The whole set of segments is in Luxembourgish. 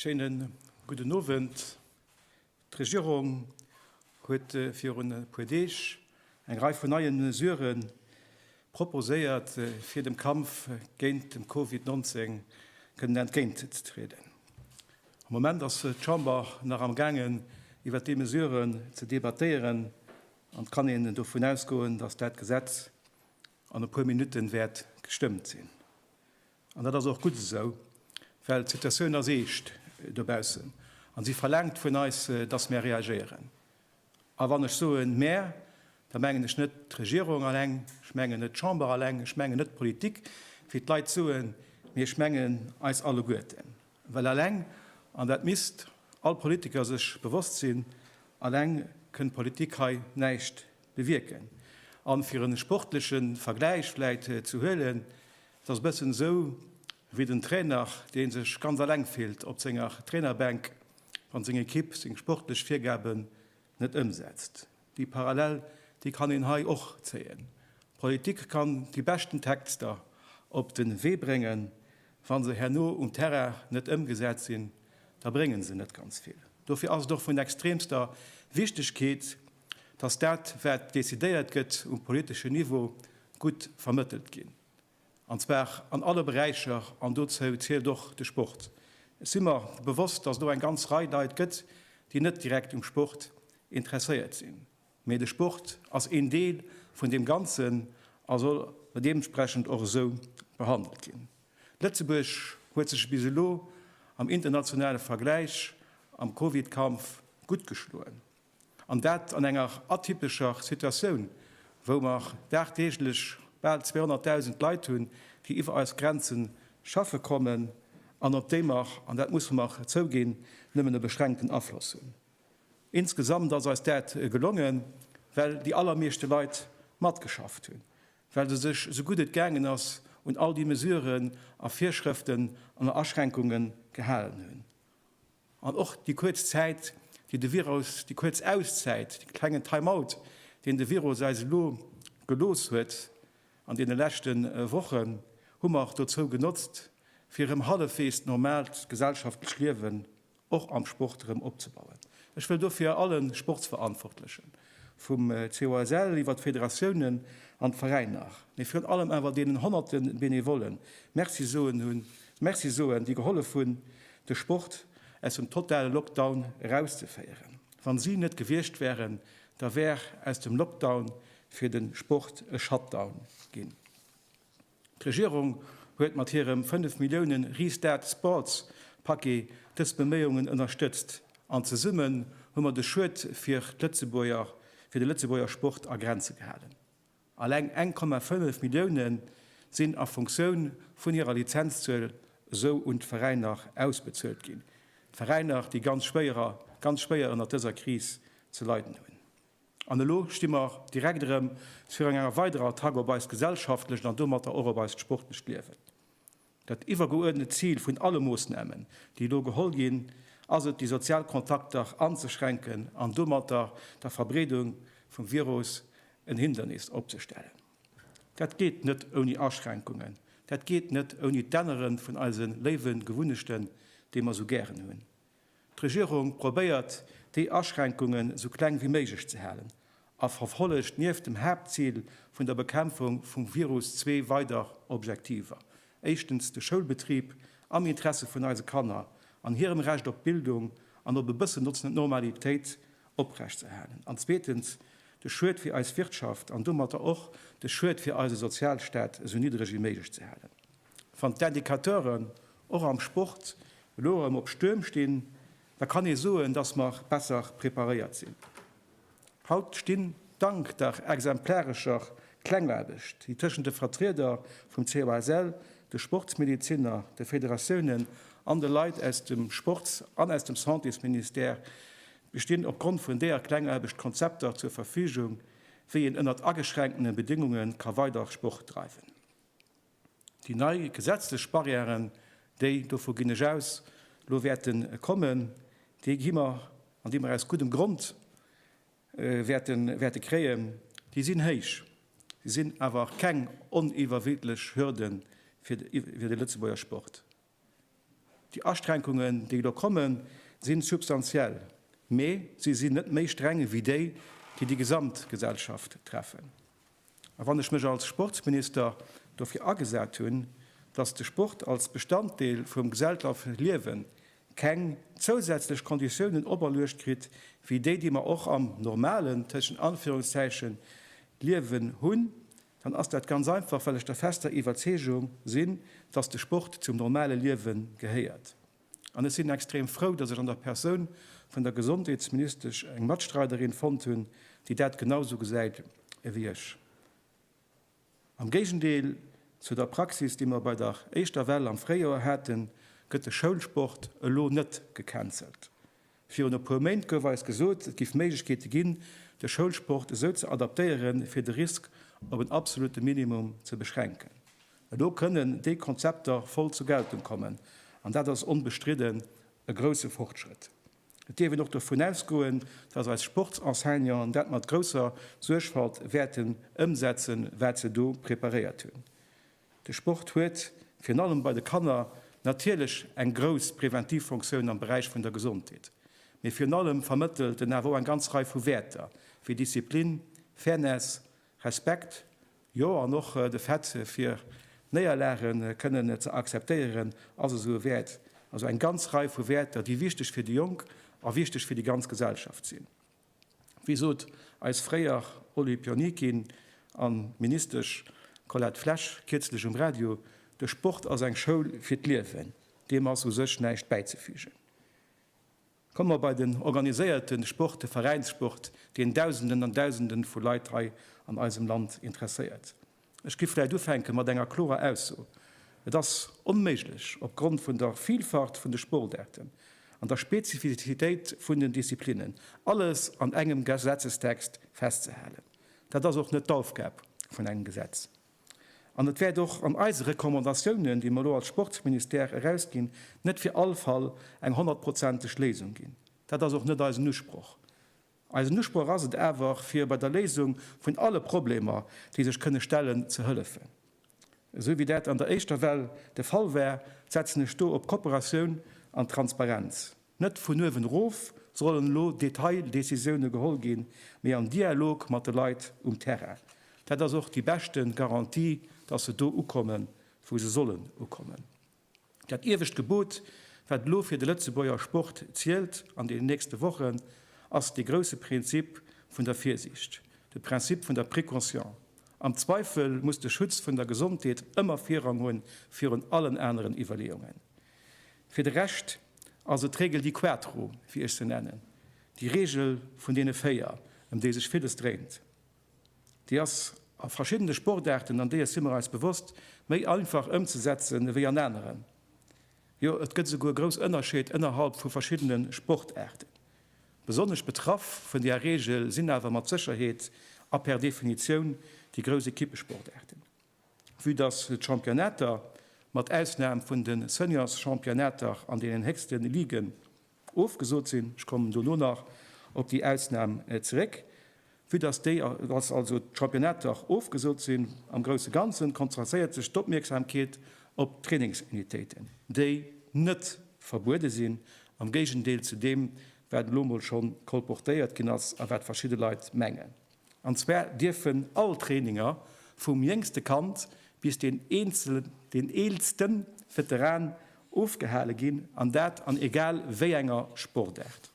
Schéinen gudden Owend. D'Regierung huet virun e puer Deeg eng Rei vun neie Mesurë proposéiert, fir dem Kampf géint de Covid 19 kënnen entgéintzetrieden. Am Moment ass d'Chamber nach am gaangen, iwwert déi Mesuren ze debattéieren, an et kann een dovun ausgoen, dass dat Gesetz an e puer Minutte wäert gestëmmt sinn. An dat ass och gutt esou, well d'Situatioun ass eescht dobaussen a si verlaangt vun eis, dass mär reagéieren. A wann ech soen mär, da mengen ech net d'Regierung alleng, ech mengen net d'Chamber alleng, ech mengen net d'Politik, wéi d'Leit soen, mee ech mengen eis alleguerten. Well alleng, an dat misst all Politiker sech bewosst sinn, alleng kënn d'Politik hei näischt bewierken. A fir e sportleche Vergläich vläicht ze huelen, Et ass e bëssen esou wéi den Trainer, dee sech ganz eleng fillt op senger Trainerbänk, wann seng Ekipp seng sportlech Virgaben net ëmsetzt. Déi Parallel, déi kann een hei och zéien. D'Politik kann déi beschten Texter op de Wee bréngen, wa se herno um Terrain net ëmgesat sinn, da bréngen se net ganz vill. Dofir ass et och vun extremster Wichtegkeet, dass dat wat decidéiert gëtt um politeschen Niveau gutt vermëttelt ginn, an zwar an alle Beräicher, an dozou zielt och de Sport. Ech si mer bewosst, dass et och eng ganz Rei Leit gëtt, déi net direkt um Sport interesséiert sinn, mee de Sport ass een Deel vun deem Ganzen a soll deementsprechend och esou behandelt ginn. Lëtzebuerg huet sech bis elo am internationale Vergläich am Covid-Kampf gutt geschloen. An dat an enger atypescher Situatioun, wou mer dagdeeglech bal 200.000 Leit hunn, déi iwwer eis Grenze schaffe kommen an op déi mer, an dat musse mer zouginn, nëmmen e beschränkten Afloss hunn. Insgesamt ass eis dat gelongen, well déi allermeeschte Leit matgeschafft hunn, well se sech esou gutt et gaangen ass un all déi Mesuren a Virschrëften an Aschränkungen gehalen hunn. An och déi kuerz Zäit, déi de Virus, déi kuerz Auszäit, dee klengen Time-out, deen de Virus eis elo gelooss huet an deene leschte Wochen, hu mer dozou genotzt, fir erëm hallefweegs normaalt gesellschaftlecht Liewen och am Sport erëm opzebauen. Ech wëll dofir alle Sportsverantwortlechen, vum COSL iwwer d'Federatiounen an d'Veräiner, mee virun allem awer deenen honnerte Benevollen Merci soen hunn, Merci soen, déi gehollef hunn, de Sport aus dem totale Lockdown erauszeféieren. Wa si net gewiescht wären, da wär aus dem Lockdown fir de Sport e Shutdown ginn. D'Regierung huet mat hirem 5 Milliounen Restart Sports Paquet dës Beméiungen ënnerstëtzt an zesummen hu mer de Schued fir de Lëtzebuerger Sport a Grenze gehalen. Alleng 1,5 Milliounen sinn a Funktioun vun hirer Lizenzzuel esou un d'Veräiner ausbezuelt ginn, d'Veräiner, déi ganz schwéier ënnert dëser Kris ze leiden hunn. An elo sti mer direkt erëm virun enger weiderer Attack op eist gesellschaftlecht an domatter och op eist sportlecht Liewen. Dat iwwergeuerdnet Zil vun alle Moossnamen, déi elo geholl ginn, ass et, déi sozial Kontakter anzeschränken an domatter der Verbreedung vum Virus en Hindernis opzestellen. Dat geet net ouni Aschränkungen, dat geet net ouni d'Ännere vun eise léiwe Gewunnechten, déi mer esou gären hunn. D'Regierung probéiert, déi Aschränkungen esou kleng wéi méiglech ze halen a verfollegt nieft dem Haaptzil vun der Bekämpfung vum Virus zwee weider Objektiver, éischtens de Schoulbetrib am Interesse vun eise Kanner an hirem Recht op Bildung an op e bëssen Normalitéit oprechtzehalen an zweetens de Schued fir eis Wirtschaft an domatter och de Schued fir eise Sozialstaat esou niddreg wéi méiglech ze halen. Wann d'Indicateuren och am Sport elo erëm op Stuerm stinn, da kann ee soen, dass mer besser preparéiert sinn. Haut stinn, dank der exemplarescher Klengaarbecht, déi tëschent de Vertrieder vum COSL, de Sportsmedeziner, de Federatiounen an de Leit aus dem Sports an aus dem Santésministère bestinn, opgrond vun deeër Klengaarbecht Konzepter zur Verfügung, wéi een ënnert ageschränkene Bedéngunge ka weider Sport dreiwen. Déi nei gesetzlech Barrièren, déi, dovu ginn ech aus, elo wäerte kommen, déi gi mer an déi mer aus guddem Grond wäerte kréien, déi sinn héich. Si sinn awer keng oniwwerwidlech Hürde fir de Lëtzebuerger Sport. Déi Aschränkungen, déi elo kommen, sinn substantiell, mee si sinn net méi streng wéi déi, déi déi gesamt Gesellschaft treffen. A wann ech mech als Sportsminister dofir agesat hunn, dass de Sport als Bestanddeel vum geselltafe Liewen keng zousätzlech Konditiounen operluecht kritt wéi déi, déi mer och am normalen, tëschent Anführungszeichen, Liewen hunn, dann ass dat ganz einfach, well ech der fester Iwwerzeegung sinn, dass de Sport zum normale Liewe gehéiert. An ech sinn extrem frou, dass ech an der Persoun vun der Gesondheetsministesch eng Matstreiderin fonnt hunn, déi dat genau esou gesäit ewéi ech. Am Géigendeel zu der Praxis, déi mer bei der éischter Well am Fréijoer haten, gëtt de Schoulsport elo net gecancelt. Virun e puer Méint gouf eis gesot, et géif Méiglechkeete ginn, de Schoulsport esou ze adaptéieren, fir de Risk op en absolute Minimum ze beschränken. Elo kënnen déi Konzepter voll zur Geltung kommen, an dat ass onbestridden e grousse Fortschrëtt. Et dierf een och dovun ausgoen, dass eis Sportsenseignanten dat mat grousser Suergfalt wäerten ëmsetzen, wat se do preparéiert hunn. De Sport huet, virun allem bei de Kanner, natierlech eng grouss preventiv Fonctioun am Beräich vun der Gesondheet, mee virun allem vermëttelt en awer och eng ganz Rei vu Wäerter wéi Disziplin, Fairness, Respekt, jo an och de Fait fir Néierlage kënnen ze akzeptéieren ass esou e Wäert. Also eng ganz Rei vu Wäerter, déi wichteg fir déi Jonk a wichteg fir déi ganz Gesellschaft sinn. Wéi sot eis fréier Olympionikin an Ministesch Colette Flesch kierzlech um Radio, De Sport ass eng Schoul fir d'Liewen. Deem ass u sech näischt bäizefügen. Komme mer bei den organiséierten Sport, de Veräinssport, deen Dausenden an Dausenden vu Leit hei an eisem Land interesséiert. Ech giff vläit ufänken mat enger klorer Ausso, Et ass onméiglech, op Grond vun der Vielfalt vun de Sportaarten an der Spezifizitéit vun den Disziplinnen, alles an engem Gesetzestext festzehalen. Dat ass och net d'Aufgab vun engem Gesetz. An et wäert och an eise Recommandatiounen, déi mer elo als Sportsministère erausginn, net fir all Fall eng honnertprozenteg Léisung ginn. Dat ass och net eisen Usproch. Eisen Usproch ass et awer, fir bei der Léisung vun alle Problemer, déi sech kënne stellen, ze hëllefen. Esou wéi dat an der éischter Well de Fall war, setzen ech do op Kooperatioun an Transparenz. Net vun uewen erof sollen elo Detaildecisioune geholl ginn, mee am Dialog mat de Leit um Terrain. Dat ass och déi beschte Garantie, dass se do ukommen, wou se sollen ukommen. Dat iewescht Gebot, wat elo fir de Lëtzebuerger Sport zielt an deenen nächste Wochen, ass dee grousse Prinzip vun der Virsiicht, de Principe vun der Précaution. Am Zweifel muss de Schutz vun der Gesondheet ëmmer Virrang hu virun allen aneren Iwwerleeungen. Fir de Rescht ass et d'Regel di quattro, wéi ech se nennen, déi Regel vun deene véier, ëm déi sech villes dréint. Déi ass a verschiddene Sportaarten, an deeër si mer eis bewosst, méi einfach ëmzesetzen ewéi an aneren. Jo, et gëtt esouguer grouss Ënnerscheed ënnerhalb vu verschiddene Sportaarten. Besonnesch betraff vun där Reegel sinn awer mat Sécherheet a per Definitioun déi grouss Equippesportaarten. Vue dass d'Championnater, mat Ausnam vun de Seniors-Championnater an deenen héchste Liguen, Ofgesot sinn. Ech kommen dono nach op déi Ausnam zeréck. Vue dass déi, dass also d'Championnate dach ofgesot sinn, am grousse Ganzen konzentréiert sech d'Opmierksamkeet op d'Trainingsunitéiten, déi net verbuede sinn, am Géigendeel zu deem, wat elo mol scho kolportéiert ginn ass a wat verschidde Leit mengen. An zwar dierfen all Traininger, vum jéngste Kand bis deen eelsten Veteran, ofgehale ginn, an dat an egal wéi enger Sportaart.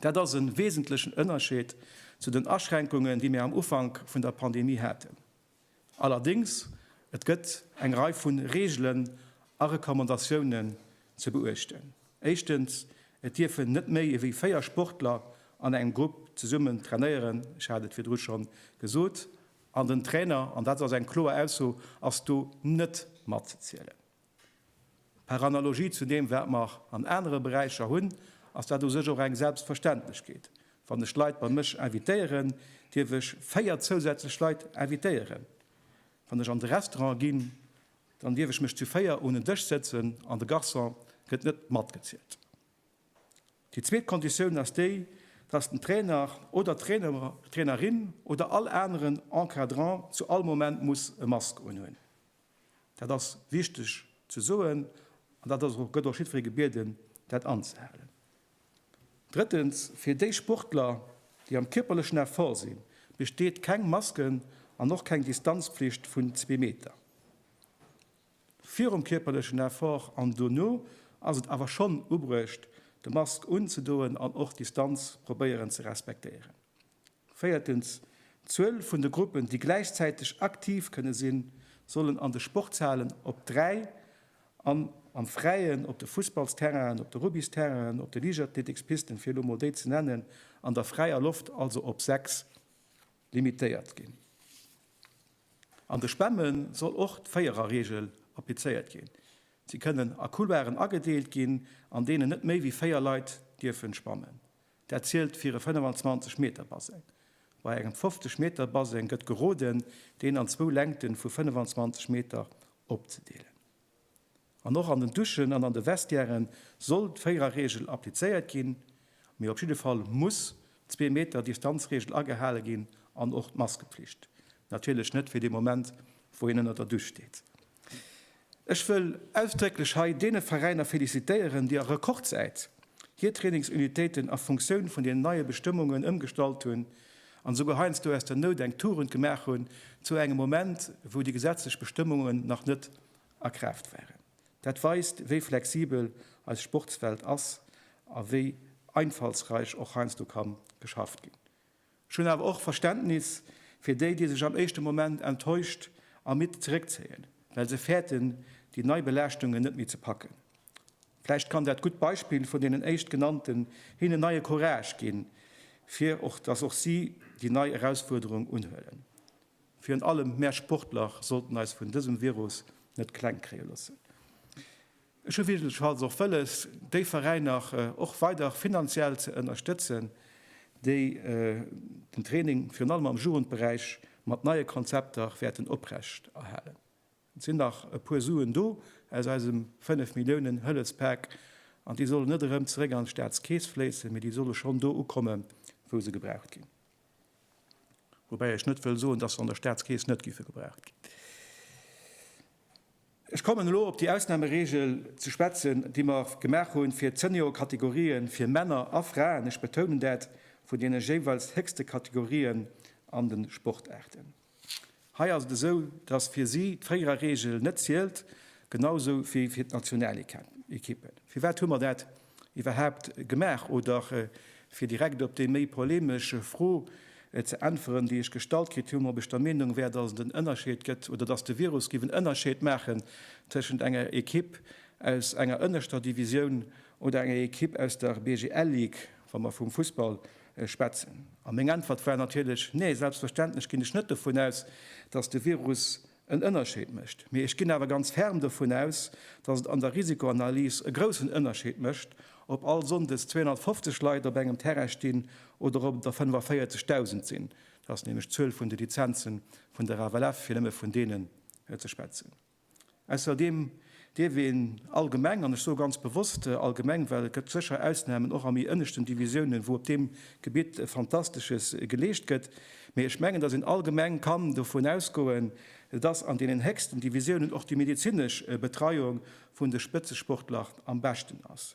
Dat ass e wesentlechen Ënnerscheed zu den Aschränkungen, déi mir am Ufank vun der Pandemie haten. Allerdéngs, et gëtt eng Rei vu Reegelen a Recommandatiounen ze beuechten. Éischtens, et dierfen net méi ewéi véier Sportler an engem Grupp zesummen trainéieren, ech hat et virdru schonn gesot, an den Trainer, an dat ass eng kloer Ausso, ass do net matzezielen. Par analogie zu deem, wat mer an anere Beräicher hunn, ass dat u sech och eng Selbstverständlechkeet. Wann ech Leit bei mech invitéieren, dierf ech véier zousätzlech Leit invitéieren. Wann ech an de Restaurant ginn, dann dierf ech mech zu véier un en Dësch sëtzen an de Garçon gëtt net matgezielt. Déi zweet Konditioun ass déi, dass den Trainer oder d'Trainerin oder all aneren Encadrant zu all Moment muss e Mask unhunn. Dat ass wichteg ze soen an dat ass och, gëtt och jiddweree gebieden, dat anzehalen. Drëttens, fir déi Sportler, déi am kierperlechen Effort sinn, besteet keng Masken an och keng Distanzpflicht vun zwee Meter. Virum kierperlechen Effort an dono ass et awer schonn ubruecht, de Mask unzedoen an och d'Distanz probéieren ze respektéieren. Véiertens, D'Zuel vun de Gruppen, déi gläichzäiteg aktiv kënne sinn, sollen an de Sportshalen op dräi an am Fräien, op de Fussballsterrainen, op de Rugbysterrainen, op de Liichtathletikspisten, fir elo mol déi ze nennen, an der fräier Loft, also op sechs limitéiert ginn. An de Spamme soll och d'Véiererregel applizéiert ginn. Si kënnen a Couloiren agedeelt ginn, an deenen net méi wéi véier Leit dierfen spammen. Dat zielt fir e 25 Meter Baseng. Bei engem 50 Meter Baseng gëtt geroden, deen an zwou Längte vu 25 Meter opzedeelen. An och an den Duschen an an de Vestiäre soll d'Véiererreegel applizéiert ginn, mee op jidde Fall muss d'Zwee Meter Distanzreegel agehale ginn an och d'Maskepflicht. Natierlech net fir dee Moment, wou een ënner der Dusch steet. Ech wëll ausdrécklech hei deene Veräiner felicitéieren, déi a Rekordzäit hir Trainingsunitéiten a Funktioun vun den neie Bestëmmungen ëmgestallt hunn an esouguer heiansdo aus der Nout eng Tugend gemaach hunn, zu engem Moment, wou déi gesetzlech Bestëmmungen nach net a Kraaft waren. Dat weist, wéi flexibel eis Sportswelt ass a wéi einfallsräich och heiansdo ka geschafft ginn. Ech hunn awer och Verständnis fir déi, déi sech am éischte Moment enttäuscht a midd zeréckzéien, well se fäerten, déi nei Belaaschtungen net méi ze packen. Vläicht kann dat gutt Beispill vun deenen éischt Genannten hinnen neie Courage ginn, fir och dass och si déi nei Erausfuerderung unhuelen. Virun allem mär Sportler sollten eis vun dësem Virus net kleng kréie loossen. Ech hu wierklechfalls och wëlles, déi Veräiner och weider finanziell ze ënnerstëtzen, déi den Training virun allem am Jugendberäich mat neie Konzepter wäerten oprecht erhalen. Et sinn nach e puer Suen do aus eisem fënnef Milliounen Hëllefspak, an déi solle net erëm zeréck an d'Staatskeess fléissen, mee déi solle schonn do ukommen, wou se gebraucht ginn. Woubäi ech net wëll soen, datt se an der Staatskeess net géife gebraucht ginn. Ech kommen elo op déi Ausnahmeregel ze schwätzen, déi mer gemaach hunn fir d'Seniorkategorië fir Männer a Fraen, ech betounen dat, vun deene jeeweils héchste Kategorien an de Sportaarten. Hei ass et esou, dass fir si d'Fréierer-Regel net zielt, genausou wéi fir d'Nationalekippen. Firwat hu mer dat iwwerhaapt gemaach oder fir direkt op déi méi polemesch Fro ze äntweren, déi ech gestallt kritt hunn, ob ech der Meenung wär, dass et en Ënnerscheed gëtt oder dass de Virus géif en Ënnerscheed maachen tëschent enger Equipe aus enger ënneschter Divisioun oder enger Equipe aus der BGL Ligue, wa mer vum Fussball schwätzen. A meng Äntwert war natierlech, Nee, selbstverständlech ginn ech net dovun aus, dass de Virus en Ënnerscheed mécht. Mee ech ginn awer ganz ferm dovun aus, datt et an der Risikoanalys e groussen Ënnerscheed mécht, ob all Sonndes 250 Leit op engem Terrain stinn oder ob et der 45.000 sinn. Dat ass nämlech d'Zuel vun de Lizenze vun der FLF, fir nëmme vun deene ze schwätzen. Ausserdeem dierf een allgemeng, an ech soe ganz bewosst allgemeng, well et gëtt sécher Ausnahmen, och a méi ënneschten Divisiounen, wou op deem Gebitt Fantastesches geleescht gëtt, mee ech mengen, dass een allgemeng kann dovun ausgoen, dass an deenen héchsten Divisiounen och déi medezinesch Betreiung vun de Spëtzesportler am beschten ass.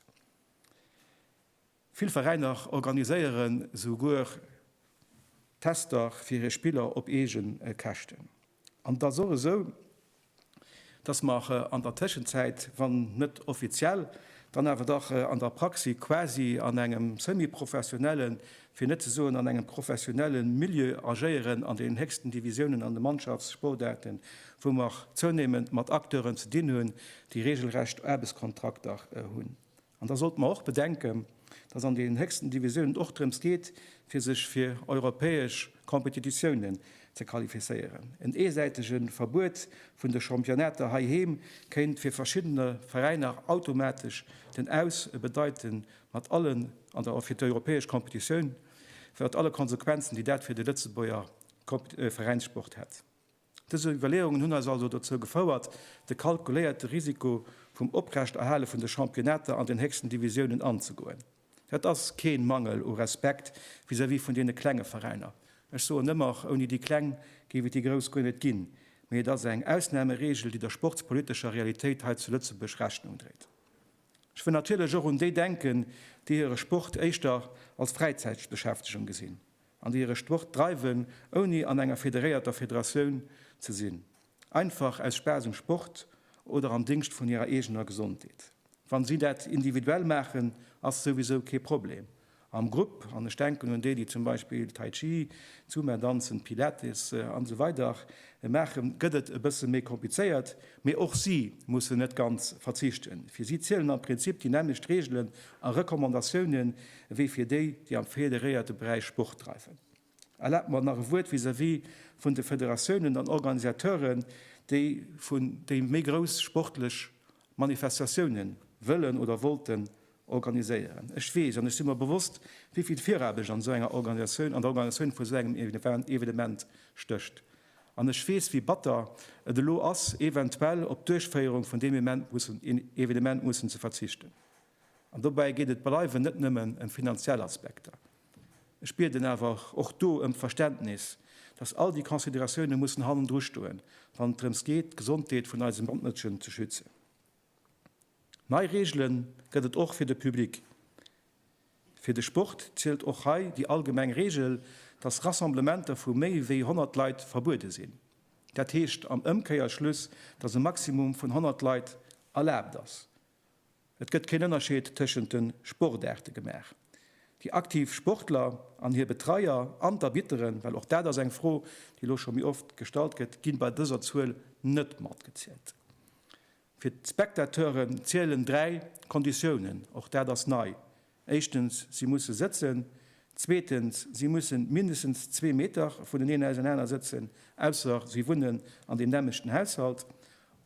Vill Veräiner organiséieren souguer Tester fir hir Spiller op eege Käschten. An et ass och esou, dass mer an der Tëschenzäit, wann net offiziell, dann awer dach an der Praxi quasi an engem semi-professionelle, fir net ze soen an engem professionelle Milieu agéieren an den héchsten Divisiounen an de Mannschaftssportaarten, wou mer zounéimend mat Acteuren ze dinn hunn, déi reegelrecht Aarbechtskontrakter hunn. An da sollte mer och bedenken, dass an den héchsten Divisiounen och drëms geet, fir sech fir europäesch Competititiounen ze qualifizéieren. En eesäitege Verbuet vun de Championnater heiheem kéint fir verschiddene Veräiner automatesch den Aus bedeiten, mat allen, an da och fir d'europäesch Competitioun, mat alle Konsequenzen, déi dat fir de Lëtzebuerger Veräinssport hätt. Dës Iwwerleeungen hunn eis also dozou gefouert, de kalkuléierte Risiko vum Oprechterhale vun de Championnater an den héchsten Divisiounen anzegoen. Dat ass kee Mangel u Respekt vis-à-vis vun deene klenge Veräiner. Ech soen ëmmer, och ouni déi Kleng géif et déi Grouss guer net ginn. Mee et ass eng Ausnameregel, déi der sportspolitescher Realitéit hei zu Lëtzebuerg Rechnung dréit. Ech wëll natierlech och un déi denken, déi hire Sport éischter als Fräizäitbeschäftegung gesinn. an déi hire Sport dreiwen, ouni an enger federéierter Federatioun ze sinn, einfach aus Spaass um Sport oder am Dingscht vun hirer eegener Gesondheet. Wann si dat individuell maachen, ass souwisou kee Problem. Am Grupp, an ech denken un déi, déi zum Beispill Tai Chi, Zumba danzen, Pilates an esou weider maachen, gëtt et e bësse méi komplizéiert, mee och si mussen net ganz verzichten. Fir si zielen am Prinzip déi nämmlecht Reegelen a Recommandatiounen, ewéi fir déi, déi am federéierte Beräich Sport dreiwen. Erlaabt mer nach e Wuert vis-à-vis vun de Federatiounen an Organisateuren, déi vun déi méi grouss sportlech Manifestatioune wëllen oder wollten organiséieren. Ech weess an ech si mer bewosst, wéi vill Viraarbecht an esou enger Organisatioun, an der Organisatioun vu esou engem Evenement stécht. An ech weess, wéi batter et elo ass, eventuell op d'Duerchféierung vun deem Evenement mussen ze verzichten. An dobäi geet et bleiwen net nëmmen ëm finanziell Aspekter. Ech bieden awer och do ëm d'Verständnis, dass all déi Consideratioune mussen hannendru stoen, wann et drëms geet, d'Gesondheet vun eise Mënschen ze schützen. Nei Reegele gëtt et och fir de Public. Fir de Sport zielt och hei déi allgemeng Reegel, dass Rassemblementer vu méi wéi 100 Leit verbuede sinn. Dat heescht am Ëmkeierschluss, dass e Maximum vun 100 Leit erlaabt ass. Et gëtt keen Ënnerscheed tëschent de Sportaarte gemaach. Déi aktiv Sportler an hir Betreier an d'Arbitteren, well och dat ass eng Fro, déi elo scho méi oft gestallt gëtt, gi bei dëser Zuel net matgezielt. Fir d'Spectateuren zielen dräi Konditiounen, och dat ass nei, Éischtens, si musse sëtzen. Zweetens, si mussen mindestens zwee Meter vuneneen ausenaner sëtzen, ausser si wunnen an deem nämmlechten Haushalt.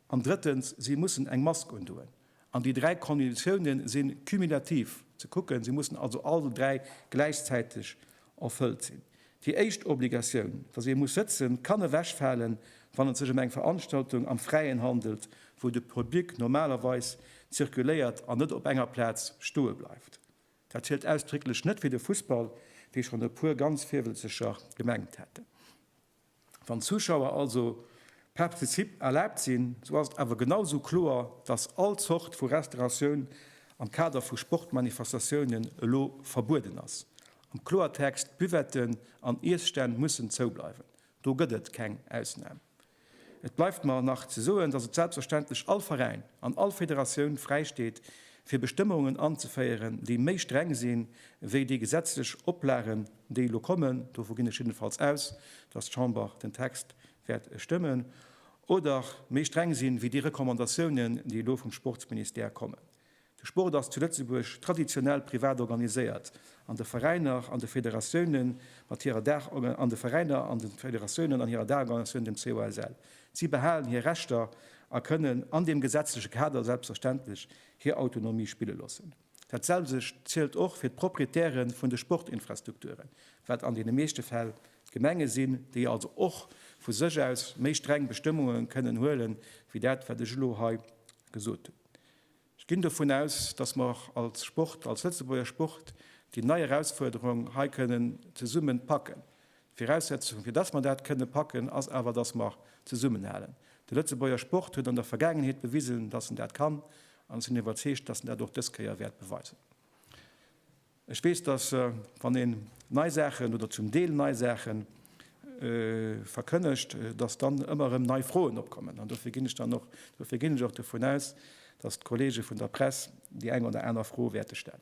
An drëttens, si mussen eng Mask undoen. An déi dräi Konditiounen si cumulativ ze kucken, si mussen also all dräi gläichzäiteg erfëllt sinn. Déi éischt Obligatioun, dass ee muss sëtzen, kann ewechfalen, wann et sech ëm eng Veranstaltung am Fräien handelt, wou de Public normalerweis zirkuléiert an net op enger Plaz stoe bleift. Dat zielt ausdrécklech net fir de Fussball, wéi schonn e puer ganz Virwëlzeger gemengt hätten. Wann d'Zuschauer also participe erlaabt sinn, sou ass et awer genau sou kloer, dass all Zort vu Restauratioun am Kader vu Sportmanifestatiounen elo verbueden ass. Am Kloertext, Buvetten an Iesstänn mussen zou bleiwen. Do gëtt et keng Ausnam. Et bleift mer nach ze soen, dass et selbstverständlech all Veräin an all Federatioun fräisteet, fir Bestëmmungen anzeféieren, déi méi streng sinn, wéi déi gesetzlech Oplagen déi elo kommen, dovu ginn ech jiddenfalls aus, dass d'Chamber den Text wäert stëmmen, oder méi streng sinn, wéi déi Recommandatiounen, déi elo vum Sportsministère kommen. De Sport ass zu Lëtzebuerg traditionell privat organiséiert, an de Veräiner an de Federatiounen mat hirer Daach, an de Veräiner an de Federatiounen an hirer Daachorganisatioun, dem COSL. Si behalen hir Rechter a kënnen an deem gesetzleche Kader selbstverständlech hir Autonomie spille loossen. Dat selwecht zielt och fir d'Proprietäre vun de Sportinfrastrukturen, wat an deene meeschte Fäll d'Gemenge sinn, déi also och vu sech aus méi streng Bestëmmunge kënnen huele wéi dat, wat ech elo hei gesot hunn. Ech ginn dovun aus, dass mer och als Sport, als Lëtzebuerger Sport, déi nei Erausfuerderung hei kënnen zesummen packen. D'Viraussetzung, fir dass mer dat kënne packen, ass awer, dass mer zesummenhalen. De Lëtzebuerger Sport huet an der Vergaangenheet bewisen, dass en dat kann, an ech sinn iwwerzeegt, dass en dat och dës Kéier wäert beweisen. Ech weess, dass, wann een nei Saachen oder zum Deel nei Saache verkënnegt, dass dann ëmmer erëm nei Froen opkommen. An dofir ginn ech dann och, dofir ginn ech och dovun aus, dass d'Kollege vun der Press déi eng oder aner Fro wäerte stellen.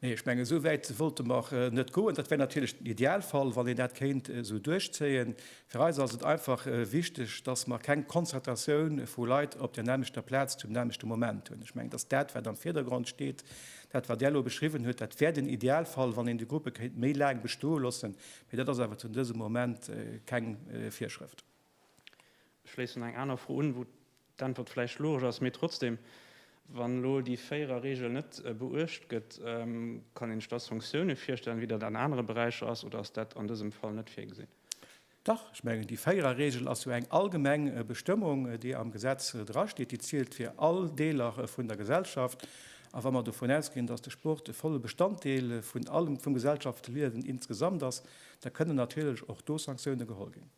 Nee, ech mengen, esou wäit wollte mer net goen. Dat wär natierlech den Idealfall, wann een dat kéint esou duerchzéien. Fir eis ass et einfach wichteg, dass mer keng Konzertatioun vu Leit op där nämmlechter Plaz zum nämmlechte Moment hunn. Ech mengen, dass dat, wat am Virdergrond steet, dat, wat Der elo beschriwwen hutt, dat wär den Idealfall, wann een déi Gruppe kéint méi laang bestoe loossen. Mee dat ass awer zu dësem Moment keng Virschrëft. Ech schléissen eng aner Fro un, wou d'Äntwert vläicht logesch ass, mee trotzdem, Wann elo déi Véierer-Regel net beuecht gëtt, kann een sech da Sanktioune virstellen, wéi dat an anere Beräicher ass, oder ass dat an dësem Fall net virgesinn? Dach, ech mengen, déi Véierer-Regel ass jo eng allgemeng Bestëmmung, déi am Gesetz drasteet. Déi zielt fir all Deeler vun der Gesellschaft. A wa mer dovun ausginn, dass de Sport e volle Bestanddeel vun allem vum Gesellschaftsliewen insgesamt ass, da kënnen natierlech och do Sanktioune geholl ginn.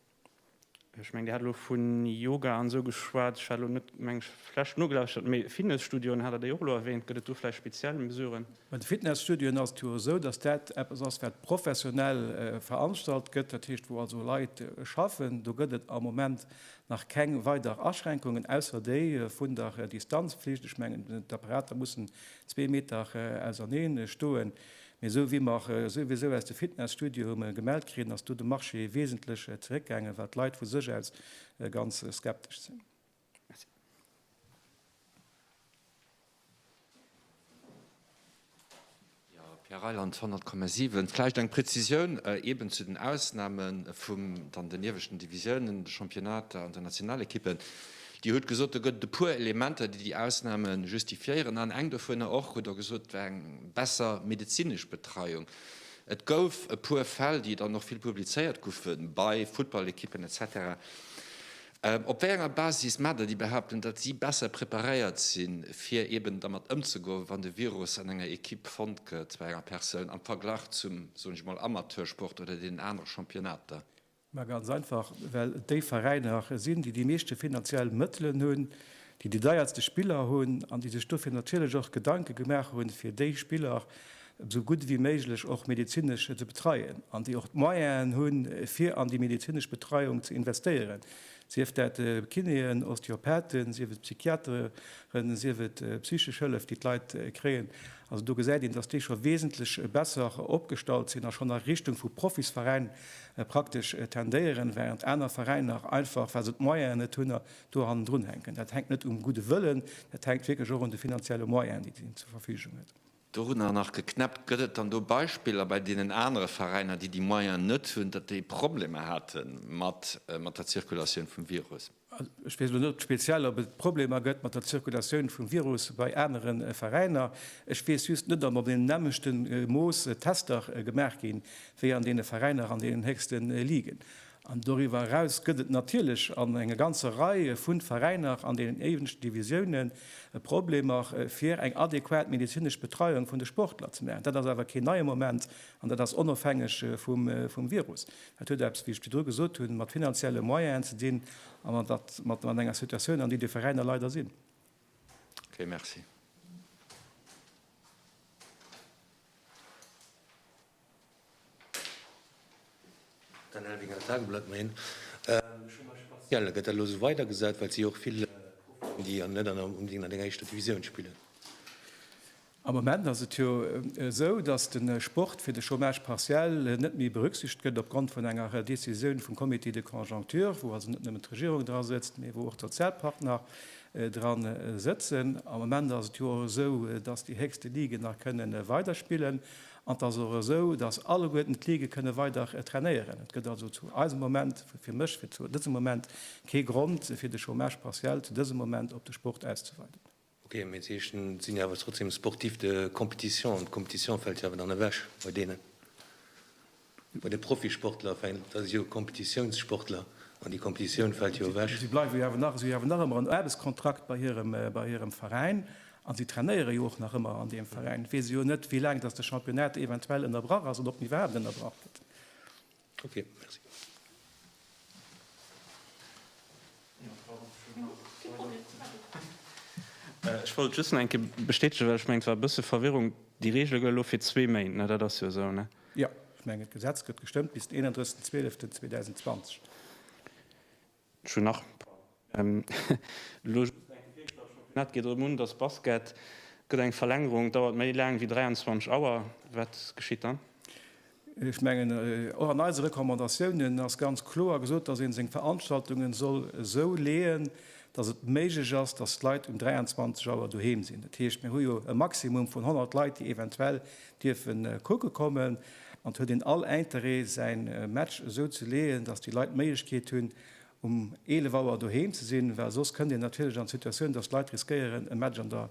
Ech mengen Dir hat elo vun Yoga an esou geschwat. Ech hat elo net meng Fläsch nogelauschert, mee Fitnesstudioen hat Der déi och elo erwähnt. Gëtt et do vläicht speziell Mesuren? Bei de Fitnesstudioen ass et jo esou, datt dat eppes ass wat professionell veranstalt gëtt, dat heescht wou also Leit schaffen. Do gëtt et am Moment nach keng weider Aschränkungen, ausser déi vun der Distanzpflicht. Ech mengen d'Apparater mussen zwee Meter ausernee stoen. Mee esou wéi mer souwisou aus de Fitnesstudio hu mellen gemellt kritt, ass do de Marché wesentlech zeréckgaangen, wat d'Leit vu sech aus ganz skeptesch sinn. Merci. Jo, Pierre Reyland, 100,7. Vläicht eng Prezisioun eeben zu den Ausname vum dann den ieweschten Divisiounen, de Championnater an den Nationalekippen. Dir hutt gesot, do gëtt et e puer Elementer, déi déi Ausname justifiéieren. An eng dovunner och, hutt Der gesot, war eng besser medezinesch Betreiung. Et gouf e puer Fäll, déi dann och vill publizéiert goufe bei Futtballekippen etc. Op wéi enger Basis maacht Der déi Behauptung, datt si besser preparéiert sinn, fir eeben dermat ëmzegoen, wann de Virus an enger Ekipp fonnt gëtt, bei enger Persoun, am Verglach zum, soen ech emol, Amateursport oder deenen anere Championnater? Ma ganz einfach, well et déi Veräiner sinn, déi déi meeschte finanziell Mëttelen hunn, déi déi deierste Spiller hunn an déi sech dofir natierlech och Gedanke gemaach hunn, fir déi Spiller esou gutt wéi méiglech och medezinesch ze betreien an déi och d'Moyenen hunn, fir an déi medezinesch Betreiung ze investéieren. Sief dat Kinéen, Osteopathen, sief et Psychiateren, sief et psychesch Hëllef, déi d'Leit kréien. Also do gesäit een, dass déi scho wesentlech besser opgestallt sinn a schonn a Richtung vu Profisveräin praktesch tendéieren, während aner Veräiner einfach, well se d'Moyene net hunn, do hannendrun hänken. Dat hänkt net um gudde Wëllen, dat hänkt wierklech och un de finanzielle Moyenen, déi een zur Verfügung huet. Dorunner nach geknäppt. Gëtt et dann do Beispiller bei deenen anere Veräiner, déi déi Moyen net hunn, datt déi Problemer hate mat der Zirkulatioun vum Virus? Ech weess elo net speziell, ob et Problemer gëtt mat der Zirkulatioun vum Virus bei anere Veräiner. Ech weess just net, ob an deem nämmlechte Mooss Tester gemaach gi wéi an deene Veräiner an deenen héchste Ligen. An doriwwer eraus gëtt et natierlech an enger ganzer Rei vu Veräiner an deenen éiwendsten Divisiounen e Problemer, fir eng adequat medezinesch Betreiung vun de Sportler ze maachen. Dat ass awer keen neie Moment an dat ass onofhängeg vum Virus. Dat huet eppes, wéi ech virdru gesot hunn, mat finanzielle Moyenen ze dinn a mat enger Situatioun, an déi déi Veräiner leider sinn. Okay, merci. Am Moment ass et jo esou, datt de Sport fir de Chômage partiel net méi berücksichtegt gëtt, opgrond vun enger Décisioun vum Comité de conjoncture, wou also net nëmmen d'Regierung dra sëtzt, mee wou och d'Sozialpartner dra sëtzen. Am Moment ass et jo och esou, datt déi héchste Liguen nach kënne weiderspillen. An et ass och esou, datt alleguerten d'Ligue kënne weider trainéieren. Et gëtt also zu eisem Moment, fir mech, fir zu dësem Moment kee Grond, fir de Chômage partiel zu dësem Moment op de Sport auszeweiden. Ok, mee d'Heeschen sinn jo awer trotzdem sportifs de compétition an d'Compétition fält jo awer dann ewech bei deenen. Bei de Profisportler fänkt, dat ass jo e Kompetitiounssportler, an déi Kompetitioun fält jo ewech. Si bleiwe jo awer nach, si hawen nach ëmmer en Aarbechtskontrakt bei hirem, bei hirem Veräin, a si trainéiere jo och nach ëmmer an deem Veräin. Et weess e jo net, wéi laang datt de Championnat eventuell ënnerbrach ass, oder ob en iwwerhaapt ënnerbrach gëtt. Ok, merci. Ech wollt just nach eng Kéier bestätegen, well ech mengen, et war e bësse Verwirrung, Déi Reegele gëlle elo fir zwee Méint, dat ass jo esou, ne? Jo, ech mengen, d'Gesetz gëtt gestëmmt bis den 31. 12. 2020. Ech hunn nach elo just eng Fro, well d'Championnat geet erëm un, dass Basket gëtt eng Verlängerung, dauert méi laang wéi 23 Auer. Wat geschitt dann? Ech mengen, och an eise Recommandatiounen ass ganz kloer gesot, dass ee seng Veranstaltungen soll esou leeën, dass et méiglech ass, dass d'Leit um 23 Auer doheem sinn. Dat heescht, mir hu jo e Maximum vun 100 Leit, déi eventuell dierfe kucke kommen an et huet een all Interêt säi Match esou ze leeën, datt déi Leit d'Méiglechkeet hunn um 11 Auer doheem ze sinn, well soss kënnt een natierlech an d'Situatioun, datt Leit riskéieren e Match an der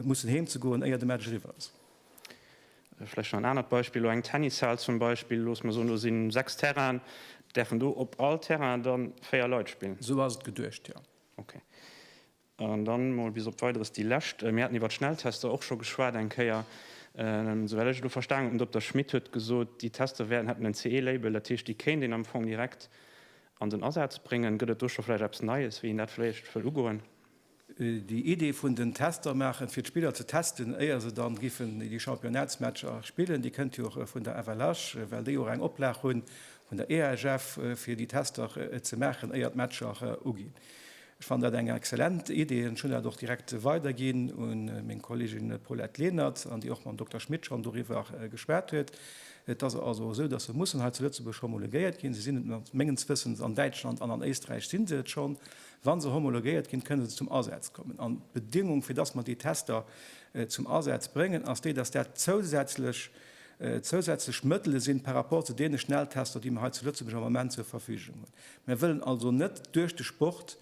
mussen heem ze goen éier de Match eriwwer ass. Vläicht nach en anert Beispill, elo eng Tennishal zum Beispill, looss mer soen do si 6 Terrainen, däerfen do op all Terrain da 4 Leit spillen? Esou ass et geduecht, jo. Okay. An dann mol bis op Weideres déi lescht. Mir haten iwwert Schnelltester och scho geschwat eng Kéier. Souwäll ech et elo verstanen hunn, den Dokter Schmit huet gesot, déi Tester wäerten, hätten en CE-Label, dat heescht, déi kéint een am Fong direkt an den Asaz bréngen. Gëtt et do scho vläicht eppes Neies, wéi een dat vläicht wëll ugoen? Déi Idee vun den Tester maachen, fir d'Spiller ze testen, éier se dann giffen déi Championnats-Matcher spillen, déi kënnt jo och vun der FLH, well déi jo och eng Oplag hunn vun der EHF, fir déi Tester ze maachen, éier d'Matcher uginn. Ech fannen dat eng exzellent Idee an ech hunn dat och direkt weiderginn u meng Kollegin Paulette Lenert, an déi och mam Dokter Schmit schonn doriwwer geschwat huet. Et ass also esou, dass se mussen hei zu Lëtzebuerg homologuéiert ginn. Se sinn et mat, mengens Wëssens, an Däitschland an an Éisträich si se et schonn. Wa se homologuéiert ginn, kënne se zum Asaz kommen. An d'Bedingung, fir dass mer déi Tester zum Asaz bréngen, ass déi, dass dat zousätzlech, zousätzlech Mëttele sinn par rapport zu deene Schnelltester, déi mer hei zu Lëtzebuerg am Moment zur Verfügung hunn. Mir wëllen also net duerch de Sport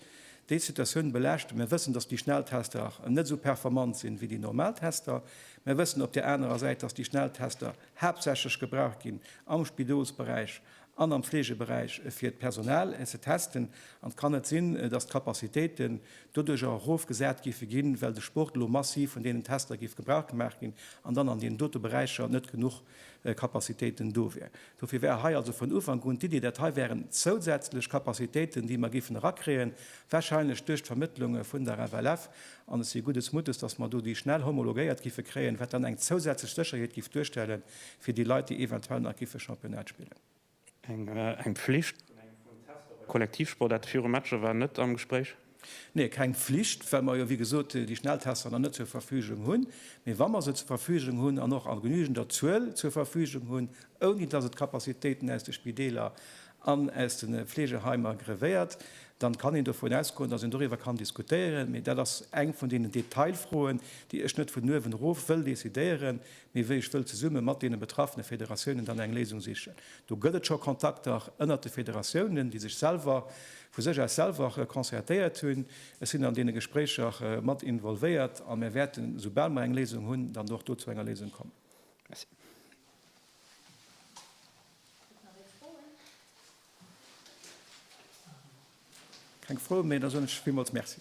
déi Situatioun belaaschten. Mir wëssen, dass déi Schnelltester net esou performant sinn, wéi déi normal Tester. Mir wëssen op där anerer Säit, dass déi Schnelltester haaptsächlech gebraucht ginn am Spidolsberäich an am Fleegeberäich, fir d'Personal ze testen. An et kann net sinn, dass d'Capacitéiten doduerch erofgesat géife ginn, well de Sport elo massiv vun deenen Tester géif gebrauch gemaach ginn an dann an deenen dote Beräicher net genuch Kapazitéiten do wier. Dofir war hei also vun Ufank un d'Iddi, dat hei wären zousätzlech Kapazitéiten, déi mer géifen erakréien, wahrscheinlech duerch d'Vermëttlunge vun der FLF. An ech si gutes Mutes, dass mer do déi schnell homologéiert gife kréien, wat dann eng zousätzlech Sécherheet géif duerstellen fir déi Leit, déi eventuell nach gife Championnat spillen. Eng Pflicht vun engem vun den Tester bei Kollektivsportaarte viru Matcher war net am Gespréich? Nee, keng Pflicht, well mer jo wéi gesot déi Schnelltester nach net zur Verfügung hunn. Mee wa mer se zur Verfügung hunn an och a genügender Zuel zur Verfügung hunn, ouni dass et Capacitéiten aus de Spideeler an aus de Fleegeheimer grevéiert, dann kann een dovun ausgoen, dass een doriwwer kann diskutéieren. Mee dat ass eng vun deenen Detailfroen, déi ech net vun uewen erof wëll decidéieren, Mee wéi ech wëll zesumme mat deene betraffene Federatiounen dann eng Léisung sichen. Do gëtt et scho Kontakter ënnert de Federatiounen, déi sech selwer vu sech aus selwer concertéiert hunn. Ech sinn an deene Gespréicher mat involvéiert a mir wäerten, esoubal mer eng Léisung hunn, dann och do zu enger Léisung kommen. Merci. Gëtt et nach ee Froen? Keng Froen méi. Da soen ech villmools Merci.